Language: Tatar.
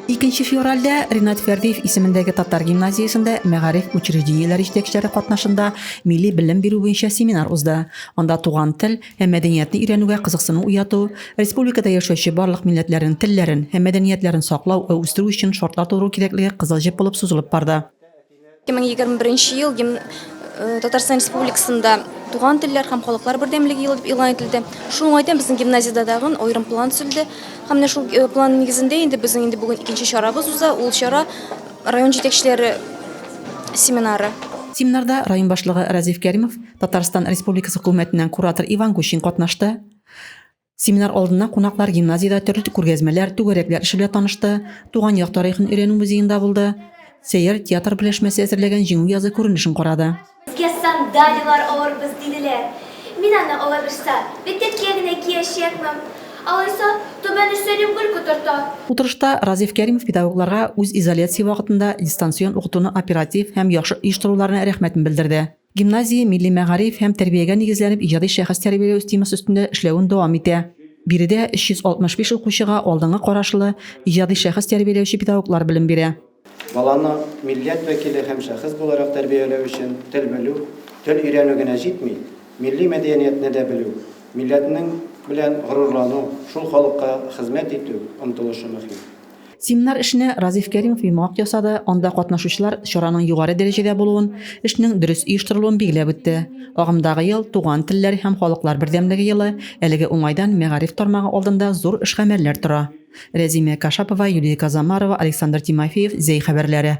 Икенче февральдә Ринат Фәрдиев исемендәге татар гимназиясендә мәгариф учреждениеләре җитәкчеләре катнашында милли белем бирү буенча семинар узды. Анда туган тел һәм мәдәниятне өйрәнүгә кызыксыну уяту, республикада яшәүче барлык милләтләрнең телләрен һәм мәдәниятләрен саклау һәм үстерү өчен шартлар тудыру кирәклеге кызыл җеп булып сузылып барды. Ике мең егерме беренче ел гимн э, Татарстан Республикасында туган телләр һәм халыклар бердәмлеге елы дип игълан ителде. Шул уңайдан безнең гимназиядә дагын аерым план төзелде. Һәм менә шул э, план нигезендә инде безнең инде бүген икенче чарабыз уза. Ул чара район җитәкчеләре семинары. Семинарда район башлыгы Разиф Кәримов, Татарстан Республикасы хөкүмәтеннән куратор Иван Гущин катнашты. Семинар алдыннан кунаклар гимназиядә төрле күргәзмәләр, түгәрәкләр эше белән танышты, Туган як тарихын өйрәнү музеенда булды, Сәйяр театр берләшмәсе әзерләгән Җиңү язы күренешен карады. Безгә сандалияләр алырбыз, диделәр. Мин аны алабызса, бетерке генә киячәкмен. Алайса, Түбән Өстәлем гел котырта. Утырышта Разиф Кәримов педагогларга үз изоляция вакытында дистанцион укытуны оператив һәм яхшы оештыруларына рәхмәтен белдерде. Гимназия милли мәгариф һәм тәрбиягә нигезләнеп иҗади шәхес тәрбияләү темасы өстендә эшләвен дәвам итә. Биредә 365 укучыга алдынгы карашлы, иҗади шәхес тәрбияләүче педагоглар белем бирә. Баланы милләт вәкиле һәм шәхес буларак тәрбияләү өчен тел белү, тел өйрәнү генә җитми, милли мәдәиәниятне дә белү, милләтнең белән горурлану, шул халыкка хезмәт итү омтылышы мөһим. Семинар эшенә Разиф Кәримов йомгак ясады, анда катнашучылар чараның югары дәрәҗәдә булуын, эшнең дөрес оештырылуын билгеләп үтте. Агымдагы ел, Туган телләр һәм халыклар бердәмлеге елы, әлеге уңайдан мәгариф тармагы алдында зур эш-гамәлләр тора. Рәзимә Кашапова, Юлия Казамарова, Александр Тимофеев, Зәй хәбәрләре.